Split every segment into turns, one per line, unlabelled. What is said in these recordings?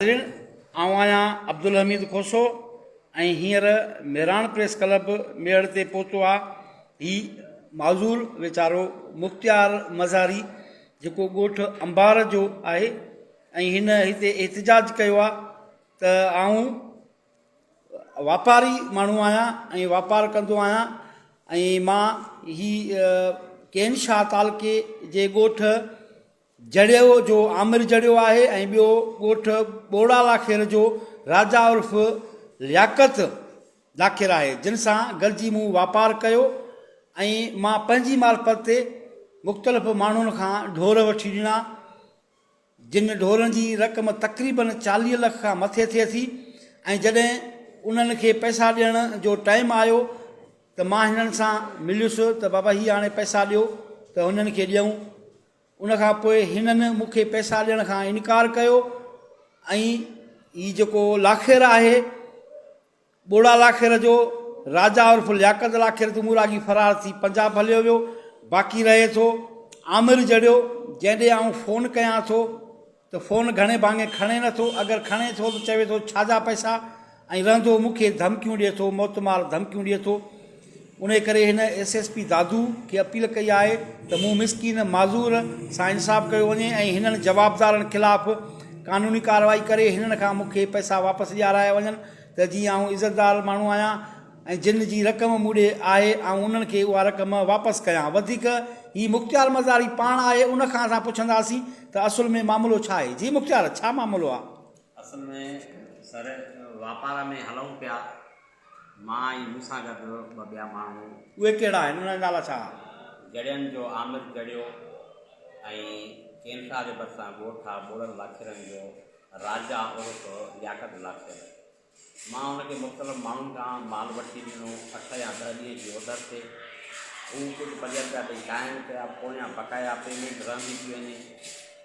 ناظرين آئون آهيان عبدالحميد کوسو ۽ هينئر ميراڻ پريس ڪلب ميڙ تي پهتو آ هي معذور ويچارو مختيار مزاري جيڪو ڳوٺ انبار جو آهي ۽ هن هتي احتجاج ڪيو آ ته آئون واپاري ماڻهو آهيان ۽ واپار ڪندو آهيان ۽ مان هي ڪين شاهه تعلقي جي ڳوٺ جڙيو جو عامر جڙيو آهي ۽ ٻيو ڳوٺ ٻوڙا لاکير جو راجا عرف لياقت لاکير آهي جن سان گڏجي مون واپار ڪيو ۽ مان پنهنجي معرفت تي مختلف ماڻهن کان ڍور وٺي ڏنا جن ڍورن جي رقم تقريبن چاليهه لک کان مٿي ٿئي ٿي ۽ جڏهن انهن کي پئسا ڏيڻ جو ٽائيم آيو ته مان هنن سان مليس ته بابا هي هاڻي پئسا ڏيو ته هنن کي ڏيون ان کان پوء هنن مون کي پئسا ڏيڻ کان انڪار ڪيو ۽ هي جيڪو لاکير آهي ٻوڙا لاکير جو راجا عرف لياقت لاکير تون مراڳي فرار ٿي پنجاب هليو ويو باقي رهي ٿو عامر جڙيو جنهن ڏي آئون فون ڪيان ٿو ته فون گهڻي ڀاڱي کڻي نه ٿو، اگر کڻي ٿو ته چوي ٿو ڇاجا پئسا ۽ رهندو مون کي ڌمڪيون ڏئي ٿو، موتمار ڌمڪيون ڏئي ٿو. انهي ڪري هن ايس ايس پي دادو کي اپيل ڪئي آهي ته مون مسڪين معذور سان انصاف ڪيو وڃي ۽ هنن جوابدارن خلاف قانوني ڪارروائي ڪري هنن کان مون کي پئسا واپس ڏيارايا وڃن ته جيئن آئون عزتدار ماڻهو آهيان. ۽ جن جي رقم مون ڏي آهي آئون انهن کي اها رقم واپس ڪيان. وڌيڪ هي مختيار مزاري پاڻ آهي ان کان اسان پڇنداسين ته اصل ۾ معاملو ڇا آهي. جي مختيار ڇا معاملو آ؟ اصل ۾
سر واپار ۾ هلئون پيا مان ۽ مون سان گڏ ٻه ٻيا ماڻهو. اهي ڪهڙا آهن
انهن جا نالا ڇا آ؟ جڙين جو
عامر جڙيو ۽ ڪينٺا جي ڀرسان ڳوٺ آ ٻوڙل لاکيرن جو راجا عرف لياقت لاکير مان هن کي مختلف ماڻهن کان مال وٺي ڏنو، اٺ يا ڏهه ڏينهن جي اوڌر تي. هو ڪجهه پنج رپيا ڏئي قائم ڪيا، پويان بقايا پيمينٽ رهندي پئي وڃي.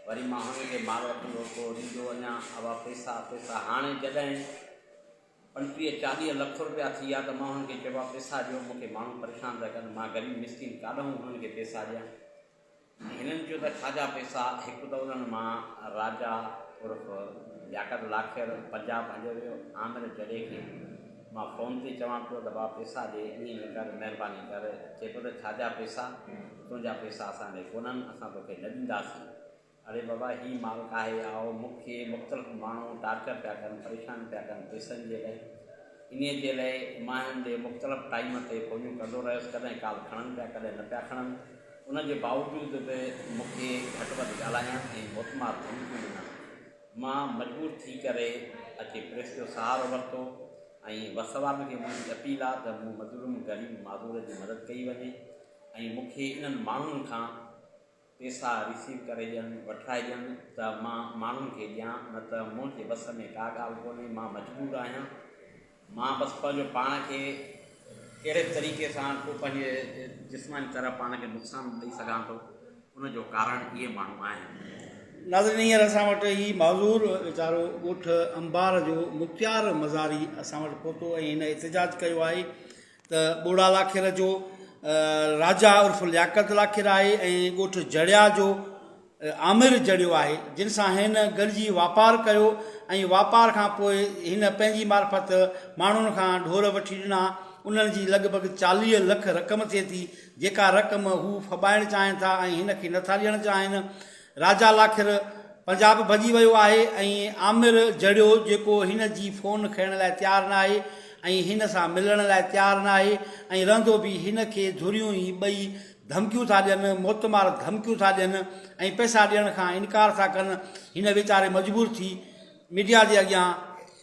وري مان هن کي مال وٺندو ٿو ڏيندو وڃان. اهئا پئسا، پئسا هاڻي جڏهن پنجٽيهه چاليهه لک رپيا ٿي ويا ته مان هن کي چئبو آهي، پئسا ڏيو، مون کي ماڻهو پريشان ٿا ڪن، مان غريب مسڪين ڪاڏانهن هنن کي پئسا ڏيان؟ هنن چيو ته خواجا پيسا هڪ ته انهن مان راجا عرف لياقت لاکير پنجاب هليو ويو، عامر جڏي کي مان فون تي چوان پيو ته بابا پيسا ڏي، ائين نه ڪر، مهرباني ڪر، چئي پيو ته خواجا پيسا تنهنجا پيسا اسان ڏي ڪونهن، اسان توکي نه ڏينداسين. اڙي بابا هي مالڪ آهي آء، مون کي مختلف ماڻهو ٽارچر پيا ڪن، پريشان پيا ڪن پيسن جي لئه، انهيء جي لئه مان هنن ڏي مختلف ٽائيم تي فونيون ڪندو رهيس، ڪڏهن ڪال کڻن پيا ڪڏهن نه پيا کڻن. ان جي باوجود به مون کي گهٽ وڌ ڳالهائڻ ۽ موتمار ڌمڪيون ڏنائون. مان مجبور ٿي ڪري اچي پريس جو سهارو ورتو ۽ وسواٽ کي منهنجي اپيل آ ته مون مظلوم غريب معذور جي مدد ڪئي وڃي ۽ مون کي انهن ماڻهن کان پيسا ريسيو ڪري ڏين وٺرائي ڏين ته مان ماڻهن کي ڏيان نه ته منهنجي وس ۾ ڪا ڳالهه ڪونهي مان مجبور آهيان. مان بس پنهنجو پاڻ کي ڪهڙي به طريقي سان ڪو پنهنجي جسماني طرح پاڻ کي نقصان ڏئي سگهان ٿو ان جو ڪارڻ اهي ماڻهو آهن. ناظرين هينئر
اسان وٽ هي معذور ويچارو ڳوٺ انبار جو مختيار مزاري اسان وٽ پهتو ۽ هن احتجاج ڪيو آهي ته ٻوڙا لاکير جو راجا عرف لياقت لاکير آهي ۽ ڳوٺ جڙيا جو آمر جڙيو آهي جن سان هن گڏجي واپار ڪيو ۽ واپار کان پوء هن پنهنجي معرفت ماڻهن کان ڍور وٺي ڏنا انهن جي لڳ ڀڳ چاليهه لک رقم ٿئي ٿي جيڪا رقم هو ڦٻائڻ چاهين ٿا ۽ هن کي نٿا ڏيڻ چاهين راجا لاکر پنجاب ڀڄي ويو آهي ۽ عامر جهڙيو جيڪو هن جي فون کڻڻ لاء تيار ناهي ۽ هن سان ملڻ لاء تيار ناهي ۽ رهندو به هن کي ڌريون هي ٻئي ڌمڪيون ٿا ڏين موتمار ڌمڪيون ٿا ڏين ۽ پئسا ڏيڻ کان انڪار ٿا ڪن هن ويچاري مجبور ٿي ميڊيا جي اڳيان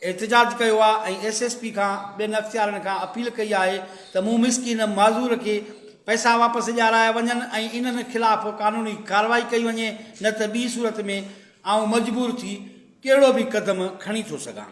احتجاج ڪيو آهي ۽ ايس ايس پي کان ٻين اختيارين کان اپيل ڪئي آهي ته مون مسڪين معذور کي پئسا واپس ڏيارايا وڃن ۽ انهن خلاف قانوني ڪارروائي ڪئي وڃي نه ته ٻي صورت ۾ آئون مجبور ٿي ڪهڙو به قدم کڻي ٿو سگهان.